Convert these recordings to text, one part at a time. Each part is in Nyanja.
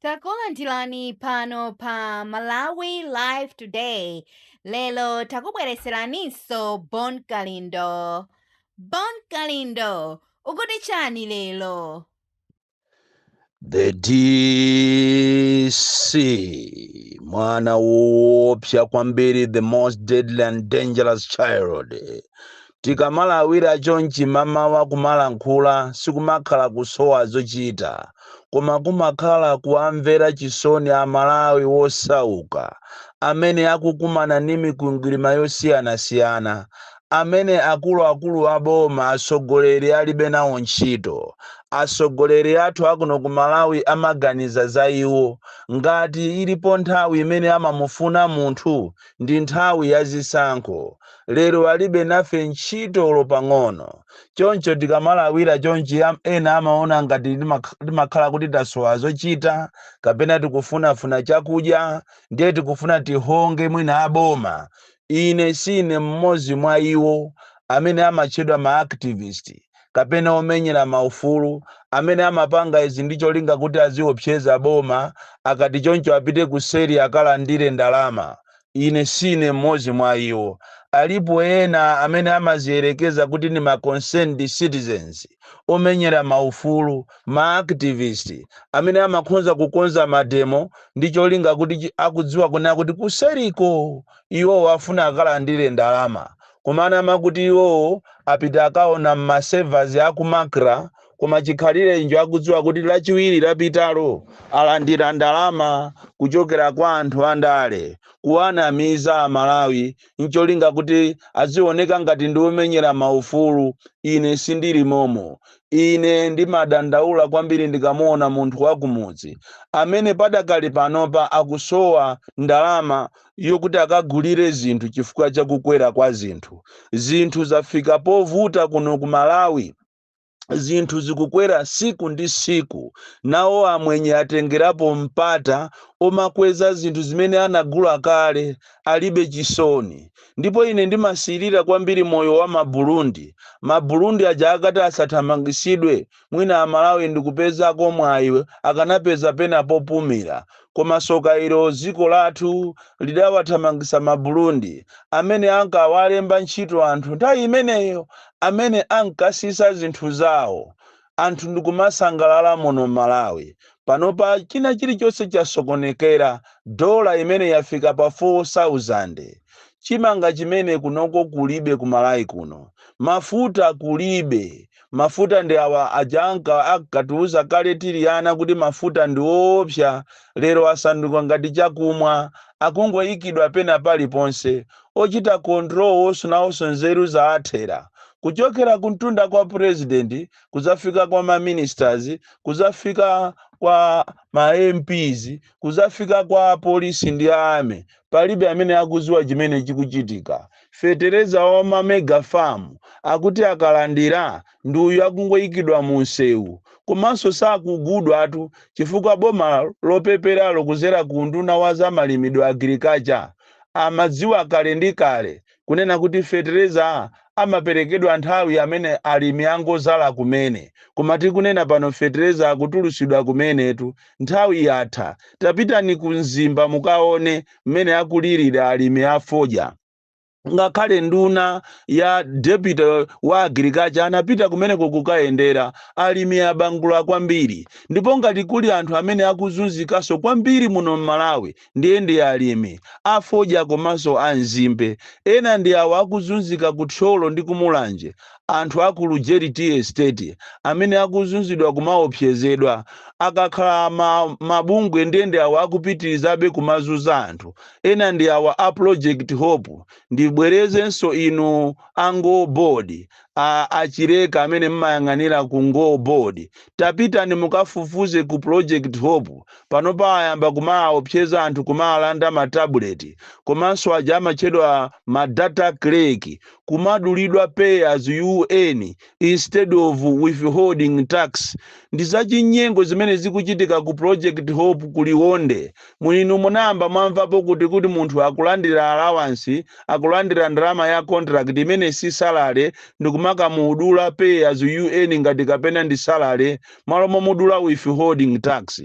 Takulandirani pano pa Malawi Live Today. Lero takubweretseraninso Bon Kalindo. Bon Kalindo, ukuti chani lero? The DC, mwana woopsa kwambiri, the most deadly and dangerous child. Tikamalawira chonchi mmamawa kumalankhula sikumakhala kusowa zochita koma kumakhala kuwamvera chisoni a Malawi wosauka amene akukumana ndi mikwingwirima yosiyanasiyana amene akuluakulu a boma atsogoleri alibe nawo ntchito. Atsogoleri athu akuno ku Malawi amaganiza za iwo ngati ilipo nthawi imene amamufuna munthu ndi nthawi ya zisankho lero alibe nafe ntchito olo pang'ono. Choncho tikamalawira chonchi ena amaona ngati timakhala kuti tasowa zochita kapena tikufunafuna chakudya ndiye tikufuna tihonge mwina a boma. Ine sine mmodzi mwa iwo amene amatchedwa ma activist kapena omenyera maufulu amene amapanga izi ndi cholinga kuti aziopseza boma akati choncho apite kuseri akalandire ndalama. Ine sine mmodzi mwa iwo. Alipo ena amene amaziyerekeza kuti ndi ma concerned citizens, omenyera maufulu, ma activist, amene amakhonza kukonza mademo ndi cholinga kuti akudziwa kunena kuti kuseriko iwowo afuna akalandire ndalama. Kumanama kuti iwowo apita akaona mma servers a ku Macra koma chikhalirecho akudziwa kuti lachiwiri lapitalo alandira ndalama kuchokera kwa anthu andale kuwanamiza a Malawi ncholinga kuti azioneka ngati ndi omenyera ma ufulu. Ine sindili momo. Ine ndimadandaula kwambiri ndikamuona munthu wakumudzi amene padakali panopa akusowa ndalama yokuti akagulire zinthu chifukwa cha kukwera kwa zinthu. Zinthu zafika povuta kuno ku Malawi, zinthu zikukwera tsiku ndi tsiku. Nawo amwenye atengerapo mpata womakweza zinthu zimene anagula kale, alibe chisoni. Ndipo ine ndimasirira kwambiri moyo wa ma Burundi. Ma Burundi aja akati asathamangisidwe mwina amalawi ndikupezako mwayi akanapeza pena popumira koma soka ilo dziko lathu lidawathamangisa ma bulundi amene ankawalemba ntchito anthu nthawi imeneyo amene ankatsitsa zinthu zawo anthu ndikumasangalala muno mmalawi panopa china chilichonse chasokonekera dola imene yafika pa 4000 chimanga chimene kunoko kulibe ku malawi kuno mafuta kulibe Mafuta ndi awa aja anka akatiuza kale tili ana kuti mafuta ndi oopsa, lero asanduka ngati chakumwa. Akungoikidwa pena paliponse. Ochita control onso nawonso nzeru zawathera. Kuchokera kumtunda kwa president kudzafika kwa ma ministers kudzafika kwa ma MPs kudzafika kwa apolisi ndi a army. Palibe amene akuziwa chimene chikuchitika. Fetereza wa ma mega farm akuti akalandira ndi uyu akungoikidwa mu nsewu. Komanso sakugulidwatu chifukwa boma lopeperalo kuzera kuunduna wa za malimidwe, Agriculture, amadziwa kale ndi kale kunena kuti fetereza amaperekedwa nthawi amene alimi angozala kumene koma tikunena pano fetereza akutulusidwa kumenetu nthawi yatha tapitani ku mzimba mukaone mmene akulirira alimi a fodya ngakhale nduna ya deputy wa agriculture anapita kumeneko kukayendera alimi abangula kwambiri ndipo ngati kuli anthu amene akuzunzikanso kwambiri muno m'malawi ndiye ndi alimi a fodya komanso a nzimbe, ena ndi awa akuzunzika ku Thyolo ndi ku Mulanje, anthu a ku Lujeri Tea Estate amene akuzunzidwa kumaopsezedwa, akakhala mabungwe ndiye ndi awa akupitirizabe kumazunza anthu, ena ndi awa a Project Hope, ndibwerezenso inu a NGO Board, a Chireka amene mmayang'anira ku ngo board tapitani mukafufuze ku project hope panopa ayamba kumawaopseza anthu kumawalanda ma tablet komanso aja amatchedwa ma data clerk kumadulidwa pay as you earn instead of withholding tax ndi zachinyengo zimene zikuchitika ku project hope ku liwonde Moti inu munayamba mwamvapo kuti kuti munthu akulandira alawansi, akulandira ndalama ya contract imene si salary ndikumakamudula pay as you earn ngati kapena ndi salary malo momudula withholding tax?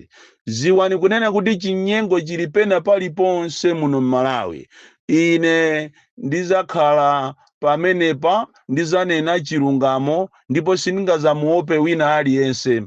Dziwani kunena kuti chinyengo chili pena paliponse muno m'Malawi. Ine ndidzakhala pamenepa ndidzanena chilungamo ndipo sindingadzamuope wina aliyense.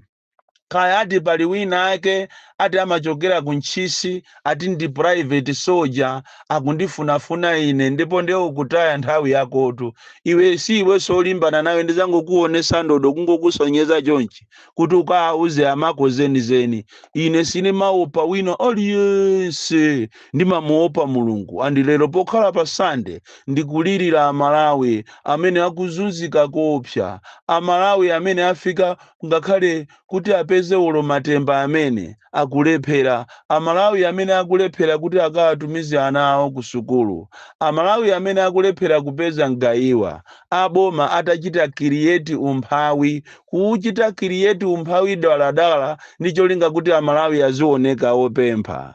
kaya ati pali wina ake ati amachokera ku ntchisi ati ndi private soldier akundifunafuna ine ndipo ndiye ukutaya nthawi yakotu iwe si iweso olimbana nawe ndizangokuonesa ndodo kungokusonyeza chonchi kuti ukawauze amako zenizeni ine sindimamuopa wina aliyense ndimamuopa mulungu andi lero pokhala pa sande ndikulirira amalawi amene akuzunzika koopsa amalawi amene afika ngakhale kuti apeze olo matemba amene akulephera amalawi amene akulephera kuti akawatumize ana awo ku sukulu amalawi amene akulephera kupeza mgayiwa aboma atachita create umphawi kuuchita create umphawi daladala ndi cholinga kuti amalawi azioneka opempha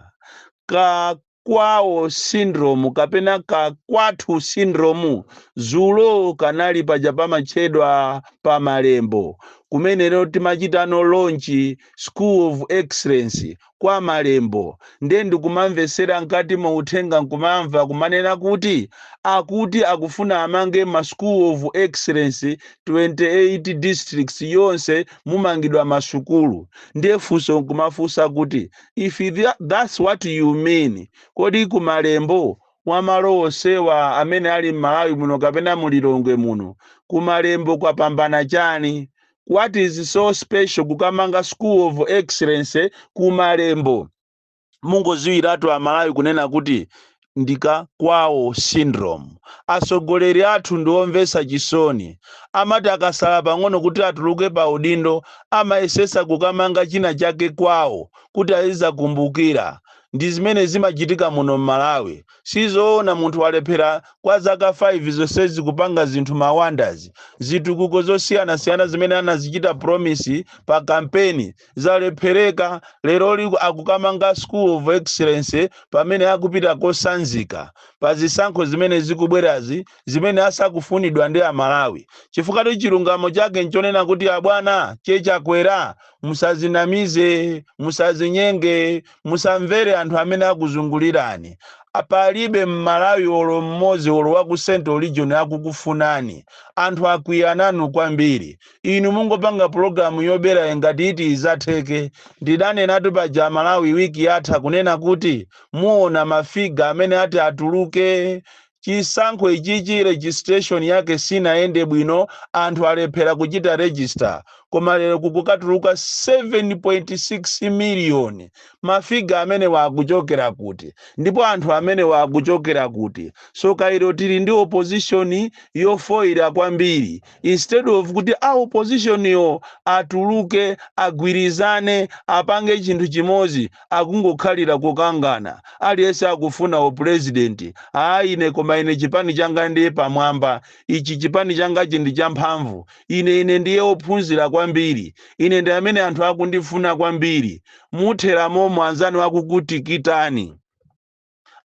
ka kwawo syndrome kapena ka kwathu syndrome dzulo kanali paja pamatchedwa pa malembo kumene lero timachitano launch school of excellence kwa malembo nde ndikumamvetsera mkati mu uthenga nkumamva kumanena kuti akuti akufuna amange ma school of excellence 28 districts yonse mumangidwa masukulu nde funso nkumafunsa kuti if tha- that's what you mean kodi kumalembo mwa malo onsewa amene ali m'malawi muno kapena mu lilongwe muno kumalembo kwapambana chani what is so special kukamanga school of excellence kumalembo mungodziwiratu amalawi kunena kuti ndi ka kwawo syndrome. Atsogoleri athu ndi omvetsa chisoni. Amati akatsala pang'ono kuti atuluke pa udindo amayesetsa kukamanga china chake kwawo kuti azidzakumbukira. Ndi zimene zimachitika muno m'Malawi. Si zoona munthu walephera kwa zaka 5 zonsezi kupanga zinthu ma wonders, zitukuko zosiyanasiyana zimene anazichita promise pa kampeni zalephereka leroli akukamanga school of excellence pamene akupita kosanzika pa zisankho zimene zikubwerazi zimene asakufunidwa ndi amalawi chifukwa ti chilungamo chake nchonena kuti abwana che chakwera musazinamize musazinyenge musamvere anthu amene akuzungulirani palibe mmalawi olo mmodzi olo wa ku central region akukufunani anthu akwiya nanu kwambiri inu mungopanga pulogalamu yoberayi ngati iti idzatheke ndidanenatu paja amalawi wiki yatha kunena kuti muona mafiga amene ati atuluke chisankho ichichi registration yake sinayende bwino anthu alephera kuchita register koma lero kukukatuluka 7.6 miliyoni mafiga amenewa akuchokera kuti ndipo anthu amenewa akuchokera kuti soka ilo tili ndi opposition yofoira kwambiri instead of kuti a opposition yo atuluke agwirizane apange chinthu chimodzi akungokhalira kukangana aliyense akufuna upresident aa ine koma ine chipani changa ndiye pamwamba ichi chipani changachi ndi champhamvu ine ine ndiye ophunzira kwambiri ine ndi amene anthu akundifuna kwambiri muthera momo anzanu akukutikitani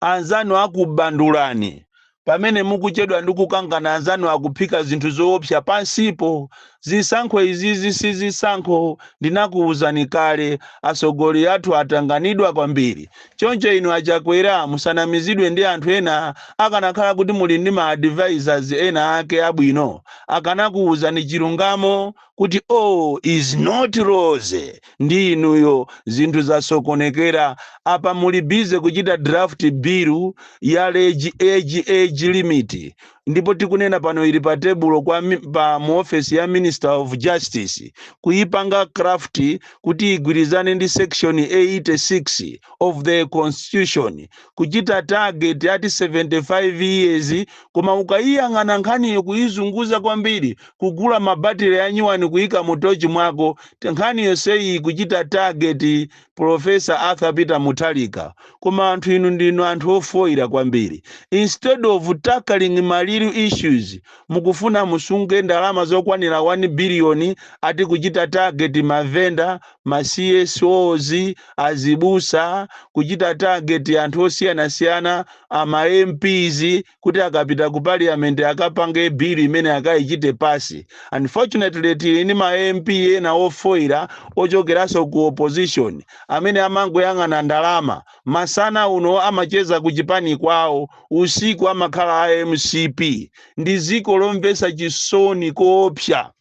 Anzanu akubandulani. Pamene mukuchedwa ndi kukangana anzanu akuphika zinthu zoopsa pansipo. Zisankho izizi si zisankho ndinakuuzani kale. Asogoleli athu atanganidwa kwambiri. Choncho inu a Chakwera musanamizidwe ndi anthu ena akanakhala kuti muli ndi ma advisors ena ake abwino akanakuuzani chilungamo kuti, all is not rosy ndi inuyo, zinthu zasokonekera, apa muli busy kuchita draft bill ya age, age, age limit, ndipo tikunena pano ili pa tebulo kwa mi- pa mu office ya Minister of Justice kuipanga craft kuti igwirizane ndi section 86 of the constitution kuchita target ati 75 years koma ukaiyang'ana nkhaniyo kuizunguza kwambiri kugula ma battery anyuwani kuika mu torch mwako, nkhani yonseyi kuchita target Prof. Arthur Peter Mutharika. Koma anthu inu ndinu anthu ofoira kwambiri. Instead of tackling ma real issues, mukufuna musunge ndalama zokwanira 1 billion ati kuchita target ma vendor, ma CSOs, azibusa, kuchita target anthu osiyanasiyana, a ma MPs, kuti akapita ku parliament akapange bill imene akayichite pass unfortunately tili ndi ma mp ena ofoira ochokeranso ku opposition amene amangoyang'ana ndalama masana uno amacheza ku chipani kwawo usiku amakhala a mcp ndi ziko lomvesa chisoni koopsa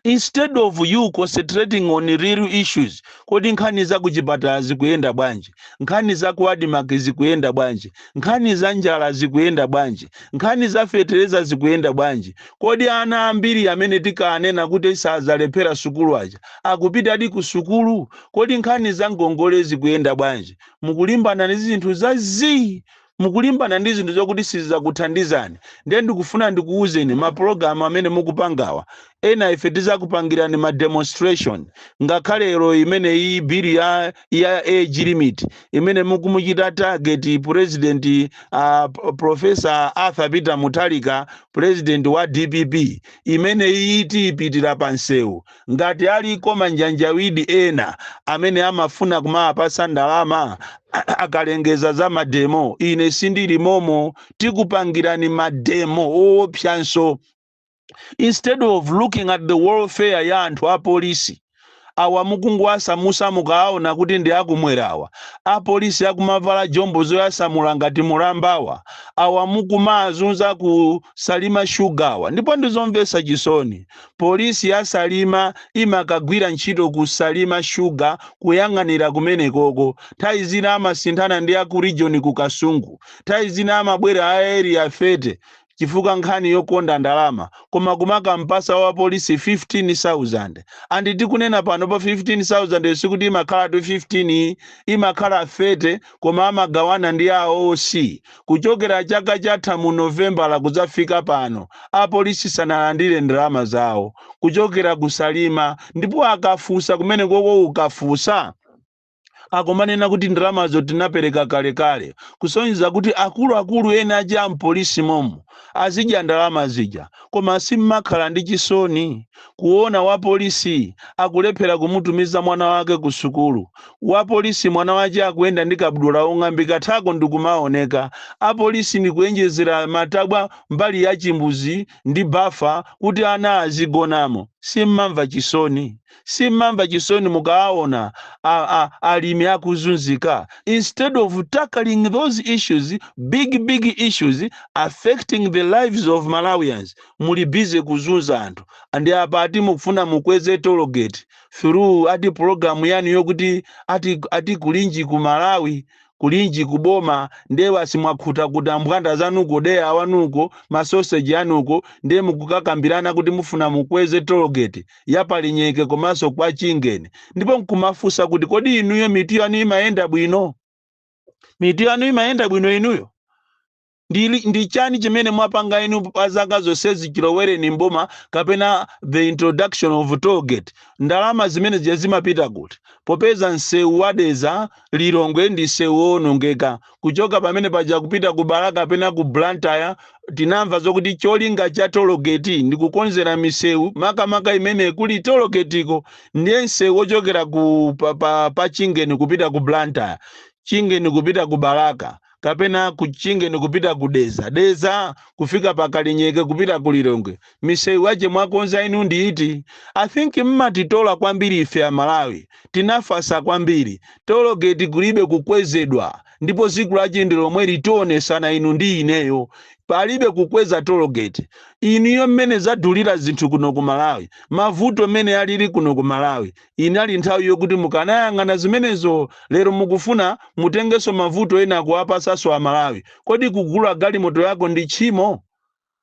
instead of you concentrating on real issues kodi nkhani za kuchipatala zikuyenda bwanji nkhani za ku admarc zikuyenda bwanji nkhani za njala zikuyenda bwanji nkhani za fetereza zikuyenda bwanji kodi ana ambiri amene tinkanena kuti sadzalephera sukulu aja akupitadi ku sukulu kodi nkhani za ngongole zikuyenda bwanji mukulimbana ndi zinthu za zii mukulimbana ndi zinthu zokuti sizakuthandizani ndiye ndikufuna ndikuwuzeni mapulogalamu amene mukupangawa ena ife tizakupangirani ma demonstration ngakhale lero imene iyi bili ya, ya age limit imene mukumuchita target president uh, profesa arthur peter muthalika president wa dpp imene iyi tiyipitira pa nsewu Ngati aliko manjanjawidi ena amene amafuna kumawapasa ndalama akalengeza za mademo, ine sindili momo. Tikupangirani mademo oopsanso. Instead of looking at the welfare ya anthu apolisi awa mukungowasamusa mukawaona kuti ndi akumwera awa. Apolisi akumavala jombo zoyasamula ngati mulamba awa. Awa mukumawazunza ku Salima Sugar awa. Ndipo ndizomvesa chisoni Police ya Salima imakagwira ntchito ku Salima Sugar kuyang'anira kumenekoko. Nthawi zina amasinthana ndi aku region ku Kasungu. Nthawi zina amabwera a Area 30 chifukwa nkhani yokonda ndalama koma kumakampasa wa police 15,000. And tikunena panopa 15,000 yo sikuti imakhalatu 15 yi, imakhala 30 koma amagawana ndi a OC. kuchokera chaka chatha mu Novembala kudzafika pano apolisi sanalandire ndalama zawo kuchokera ku Salima ndipo akafusa kumene koko ukafusa akumanena kuti ndalamazo tinapereka kalekale kusonyeza kuti akuluakulu ena aja a mpolisi momo azidya ndalama zija koma simmakhala ndi chisoni kuona wa police akulephera kumutumiza mwana wake ku sukulu wa police mwana wache akuyenda ndi kabudula ong'ambika thako ndikumaoneka a police ndikuyenjezera matabwa mbali ya chimbudzi ndi bafa kuti ana azigonamo simmamva chisoni simmamva chisoni mukawaona a, a, alimi akuzunzika instead of tackling those issues big big issues affecting the lives of malawians muli busy kuzunza anthu and apa ati mukufuna mukweze toll gate through ati program yanu yokuti ati, ati kulinji ku malawi kulinji ku boma ndiye basi mwakhuta kuti mbwanda zanuko deya wanuko masoseji anuko ndiye mukukakambirana kuti mufuna mukweze tologeti ya pa Kalinyeke komanso kwa chingeni ndipo nkumafunsa kuti kodi inuyo mitu yanu imayenda bwino mitu yanu imayenda bwino inuyo Ndi, ndi chani chimene mwapanga inu pa zaka zonsezi chilowereni mboma kapena the introduction of toll gate? Ndalama zimene zija zimapita kuti? Popeza msewu wa Dedza Lilongwe ndi msewu woonongeka. Kuchoka pamene paja kupita ku Balaka kapena ku Blantyre tinamva zokuti cholinga cha toll gate ndi kukonzera misewu makamaka imene kuli toll gate-ko. Ndiye msewu wochokera ku pa, pa, pa Chingeni kupita ku Blantyre, Chingeni kupita ku Balaka. kapena ku chingeni kupita ku deza deza kufika pa kalinyeke kupita ku lilongwe misewu yache mwakonza inu ndi iti i think mmatitola kwambiri ife amalawi tinafasa kwambiri tologeti kulibe kukwezedwa ndipo tsiku lache ndi lomwe litionesana inu ndi ineyo palibe kukweza tologeti inuyo mmene zadulira zinthu kuno ku malawi mavuto mmene alili kuno ku malawi Inali nthawi yokuti mukanayang'ana zimenezo. Lero mukufuna mutengenso mavuto ena kuwapasanso a Malawi. Kodi kugula galimoto yako ndi tchimo?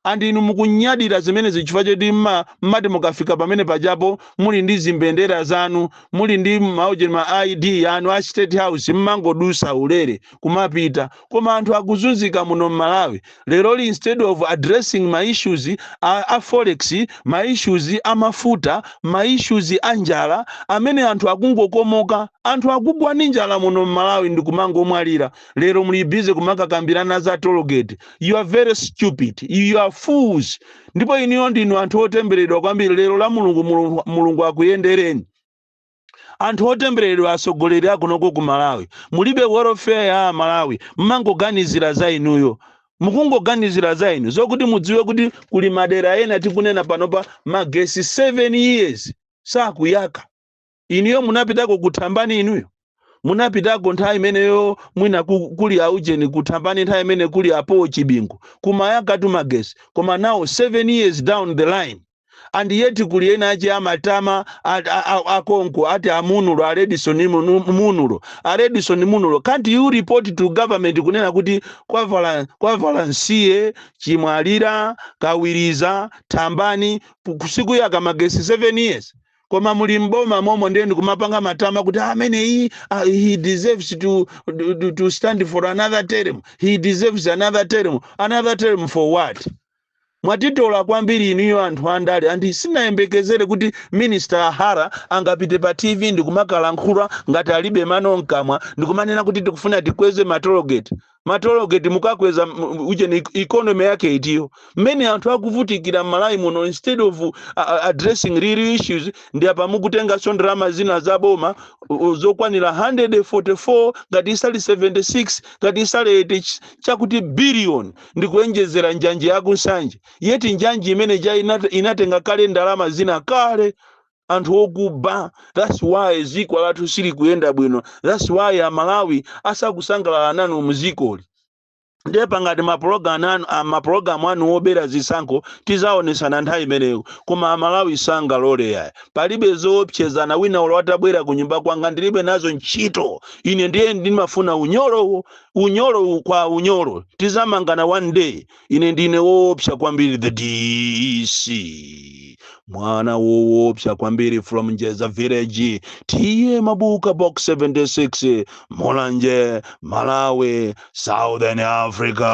And inu mukunyadira zimenezi chifukwa choti mma mmati mukafika pamene pajapo muli ndi zimbendera zanu, muli ndi ma ujeni ma ID anu a state house mmangodutsa ulere kumapita. koma anthu akuzunzika muno mmalawi leroli instead of addressing ma issues a, a forex ma issues a mafuta ma issues a njala amene anthu akungokomoka anthu akugwa ndi njala muno mmalawi ndi kumangomwalira lero muli busy kumakakambirana za tollgate you are very stupid you are fools ndipo inuyo ndinu anthu otembereredwa kwambiri lero la mulungu mulungu, mulungu akuyendereni anthu otembereredwa atsogoleri akunoko ku malawi mulibe welfare ya amalawi mmangoganizira za inuyo mukungoganizira za inu zokuti mudziwe kuti kuli madera ena tikunena panopa magesi 7 years sakuyaka inuyo munapitako kuthambani inuyo munapitako nthawi imeneyo mwina ku- kuli aujeni kuthambani nthawi imene kuli apowo chibingu kumayakatu magesi koma now 7 years down the line and yet kuli ena ache amatama at- a- a- akonko ati a Munlo a Edison Munu- Munlo a Edison Munlo can't you report to government kunena kuti kwa Vala- kwa valansiye chimwalira kawiriza thambani ku- sikuyaka magesi 7 years koma muli mboma momo ndiye ndikumapanga matama kuti amene iyi ah, he deserves to, to, to stand for another term he deserves another term another term for what Mwatitola kwambiri inuyo anthu andale and sinayembekezere kuti minister a Hara angapite pa TV ndikumakalankhula ngati alibe mano mkamwa ndikumanena kuti tikufuna tikweze ma tollgate. Ma tollgate mukakweza ujeni economy yake itiyo? Mmene anthu akuvutikira mmalawi muno instead of addressing real issues ndi apa mukutenganso ndalama zina za boma zokwanira 144 ngati isali 76 ngati isali 80 chakuti billion ndikuonjezera njanji yaku nsanje yet njanji imene ja inat- inatenga kale ndalama zina kale anthu okuba thats why ziko lathu silikuyenda bwino thats why amalawi asakusangalala nanu muzikoli ndiye pangati mapulogalamu anu ah, mapulogalamu anu obera zisankho tizaonesana nthawi imeneyo koma amalawi sangalole iyayi palibe zoopsezana wina ulo atabwera ku nyumba kwanga ndilibe nazo ntchito ine ndiye ndimafuna unyolowo unyolo kwa unyolo tizamangana one day ine ndine woopsa kwambiri the dc mwana woopsa kwambiri from njeza village TA Mabuka box 76 mulanje malawi southern africa